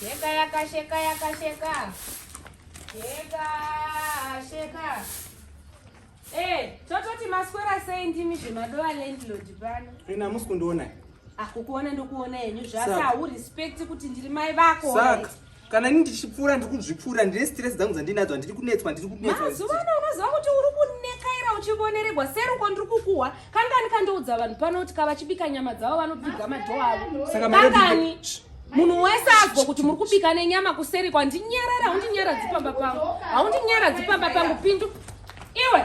Sheka yaka sheka yaka sheka. Sheka sheka. Eh, tototi maswera sei ndimi zvemadova landlord pano. Ina musi kundiona. Ah, kukuona ndokuona henyu zvasi hawu respect kuti ndiri mai vako. Saka kana ini ndichipfuura ndiri kuzvipfuura ndine stress dzangu dzandinadzo handiri kunetswa ndiri kunetswa. Mazuva ano unoziva kuti uri kunekaira uchivoneregwa seruko ndiri kukuhwa kangani kandoudza vanhu pano kuti kavachibika nyama dzavo vanopfiga madhoo avo kangani munhu wese azwa kuti muri kubika nenyama kuseri kwandinyarara haundinyaradzi pamba pangu haundinyaradzi pamba pangu pindu iwe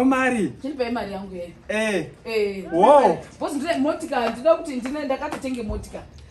omari chindipei mari yangu yeyo eh. eh. wo motika ndinoda kuti ndine ndakatotenge motika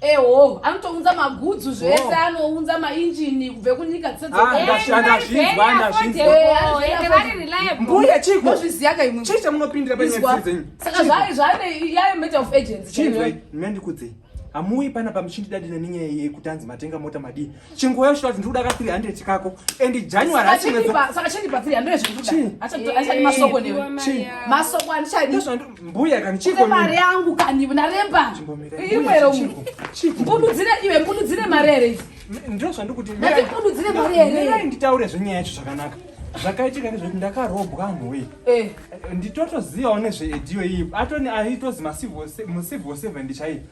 eho anotounza magudzu zvese anounza mainjini kubve kunyika dzedzeembuya chikozviziyaka imwe chii chamunopindira paisaka zvaane yayo matter of agency chii mendikudzei hamuuyi pana pamuchindidadina nenyaya yekuti anzi matenga mota madii chinguva yosvika kuti ndikuda ka 300 kako and january asisaka chindipa 300 zvekutuamasoko newe masoko andichadimbuya kani chiko mari yangu kani naremba imwero mbududzire iwe mbududzire mari here izi ndiro zvandikuti mbududzire mari here nditaure zvenyaya yacho zvakanaka zvakaitika nezvekuti ndakarobwa anhuwe eh. nditotozivawo nezveediyo iyi atoni aitozi mucivil seven chaiyo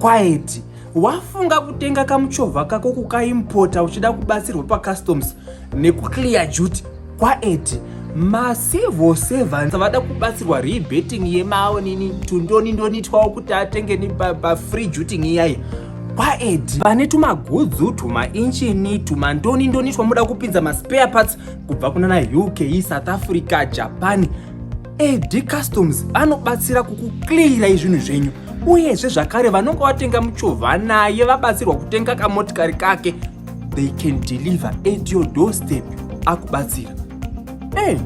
Quiet. Wafunga kutenga kamuchovha kako kukaimporta uchida kubatsirwa pacustoms nekuclear duty. Quiet. Macivil servants vada kubatsirwa rebating yemaonini tundoni ndonitwawo kuti atengeni pafree duty iyaya kwaedi vane tumagudzu tumainchini tumandoni ndoni twamuda kupinza maspare parts kubva kunana uk south africa japan AD Customs anobatsira kukuclearai zvinhu zvenyu uyezve zvakare vanonge vatenga muchovha naye vabatsirwa kutenga kamotikari kake they can deliver at your doorstep akubatsira hey,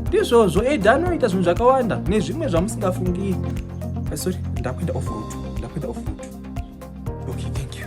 ndizvozvo ed anoita zvinhu zvakawanda nezvimwe zvamusingafungiri eh, sorry ndakuenda off road ndakuenda off road okay thank you